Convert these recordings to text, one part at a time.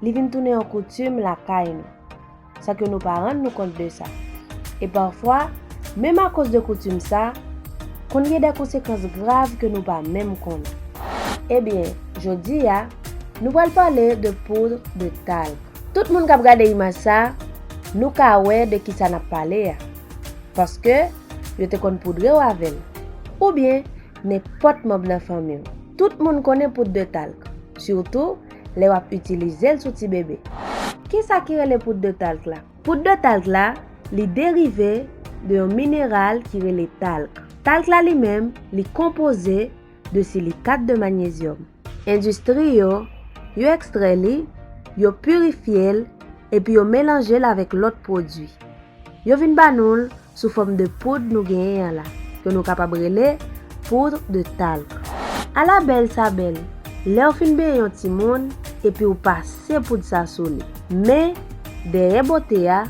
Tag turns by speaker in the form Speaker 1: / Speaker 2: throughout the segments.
Speaker 1: Li vin tounen yon koutim lakay nou, san ke nou pa rann nou kont de sa. E pafwa, menm akoz de koutim sa, konn gen de konsekans grav ke nou pa menm konnen. Ebyen, jodi a, nou pral pale de poudre de talc. Tout moun kap gade imaj sa, nou ka wè de kisa nap pale a, paske yo te konn poudre w avè l, oubyen nenpòt manb nan fanmi w. Tout moun konnen poudre de talc, sitou lè w ap itilize l sou tibebe. Kisa ki rele poud de talk la? Poud de talk la, li derive de yon mineral ki rele talk. Talk la li menm, li konpoze de silikat de manyezyòm. Endistri yo, yo ekstrè li, yo pirifye l, epi yo melanje l avèk lòt pwodui. Yo vin ba nou l sou fòm de poud nou genyen an la, ke nou kapab rele poudre de talc. Ala bèl sa bèl, lèw fin benyen yon timoun, epiw pase poud sa sou li. Men, dèyè bote a,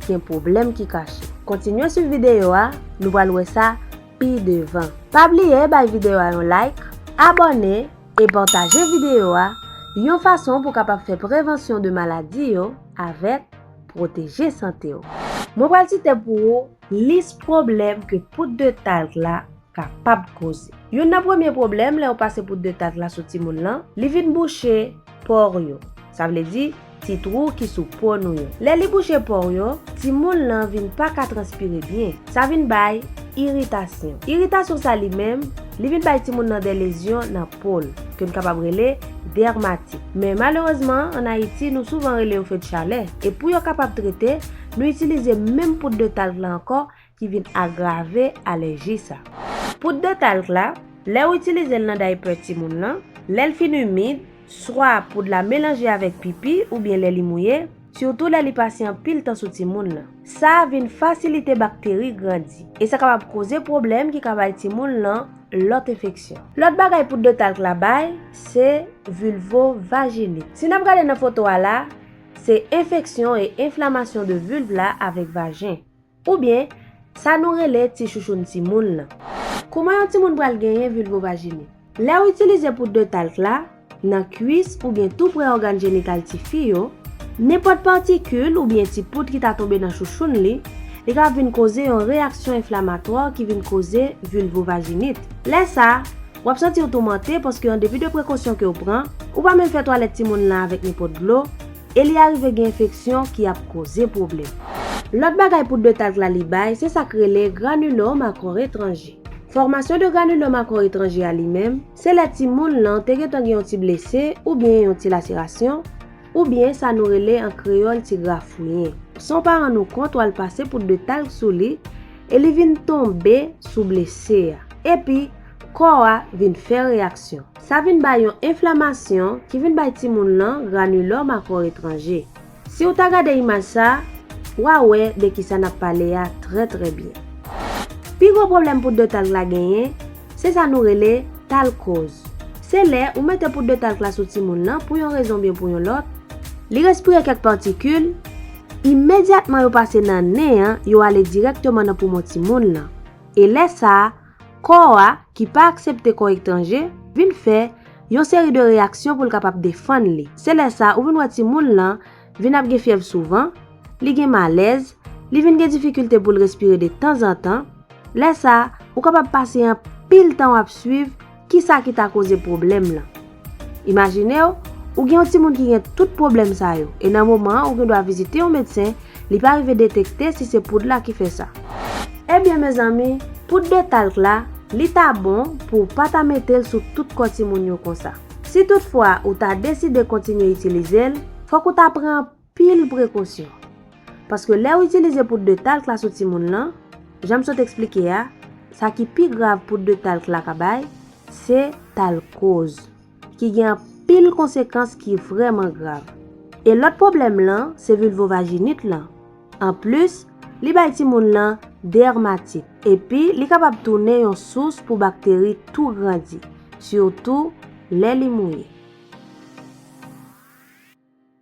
Speaker 1: gen pwoblèm ki kache. Kontinye swiv videyo a, nou pral wè sa pi devan. Pa bliye bay videyo a yon like, abòne, e pataje videyo a, yon fason pou kapab fè prevansyon de maladi yo avèk. Pwoteje sante w. Mwen pral site pou ou lis pwoblèm ke poud de talk la kapab koze. Youn nan premye pwoblèm lè ou pase poud de talk la sou timoun lan, li vin bouche pò w yo. Sa vle di, ti twou ki sou po nou yo. Lè li bouche pò w yo, timoun lan vin pa ka transpire byen. Sa vin bay iritasyon. Iritasyon sa li menm, li vin bay timoun lan de lezyon nan Pol, ke n kapab rele dermatite. Men malerezman, an Ayiti, nou souvan rele yo fedchalè. E pou yo kapab trete, nou itilize menm poud de talk la ankò ki vin agrave alèji sa. Poud de talk la, lè ou itilize l nan daypè timoun lan, lè l fin imid, swa poud la melanje avèk pipi oubyen lè li mouye, sitou lè li pase anpil tan sou timoun lan. Sa a vin fasilite bakteri grandi, e sa kapab koze pwoblèm ki ka bay timoun lan lòt enfeksyon. Lòt bagay poud de talc la bay, se vulvovaginite. Si n ap gade nan foto a la, se enfeksyon e enflamasyon de vulve la avèk vajen. Oubyen, sa nou rele ti chouchoun timoun lan. Kouman yon timoun pral genyen vilvovajini? Lè w itilize poud de talk la, nan kwis oubyen tou pre ògàn jenital ti fi yo, nenpòt patikil oubyen ti poud ki ta tonbe nan chouchoun li, li ka vin koze yon reyaksyon enflamatwa ki vin koze vilvovajinit. Lè sa, w ap santi w toumante paske an depi de prekosyon ke w pran, ou pa menm fè twalèt timoun lan avèk nenpòt dlo, e li arive gen enfeksyon ki ap koze pwoblèm. Lòt bagay poud de talk la li bay se sa k rele granulome a kò etranje. Fòmasyon de granulome a kò etranje a li menm, se lè timoun lan te gentan gen yon ti blese oubyen yon ti laserasyon, oubyen sa nou rele an kreyòl ti grafouyen. San w pa rann ou kont w al pase poud de talk sou li e li vin tonbe sou blese a. Epi, Kò a vin fè reyaksyon. Sa vin bay yon enflamasyon ki vin bay timoun lan granulòm a kò etranje. Si ou ta gade imaj sa, w a wè de ki sa n ap pale a trè trè byen. Pi gwo pwoblèm poud de talk la genyen, se sa nou rele talkoz. Se lè ou mete poud de talk la sou timoun lan pou yon rezon oubyen pou yon lòt, li respire kèk patikil, imedyatman yo pase nan nen an yo ale dirèkteman nan poumon timoun lan, e lè sa, Kò a, ki pa aksepte kò etranje, vin fè Yon seri de reyaksyon pou l kapab defann li. Se lè sa ou vin wè timoun lan vin ap gen fyèv souvan, li gen malèz, li vin gen difikilte pou l respire de tanzantan, lè sa ou kapab pase anpil tan w ap swiv Ki sa ki ta koze pwoblèm lan? Imajine w, ou gen yon timoun ki gen tout pwoblèm sa yo, e nan moman an ou gen dwa vizite yon medsen, li pa rive detekte si se poud la ki fè sa. Ebyen mezanmi, poud de talc la, li ta bon pou w pa ta mete l sou tout kò timoun yo konsa. Si tout fwa ou ta deside kontinye itilize l, fòk ou ta pran. pil prekosyon. Paske lè ou itilize poud de talc la sou timoun lan, janm sot eksplike a, sa ki pi grav poud de talc la ka bay, se talkoz. Ki gen anpil konsekans ki vrèman grav. E lòt pwoblèm lan, se vilvovajinit lan. An plis, li bay timoun lan dèrmatit. Epi li kapab tounen yon sous pou bakteri tou grandi, sitou lè li mouye.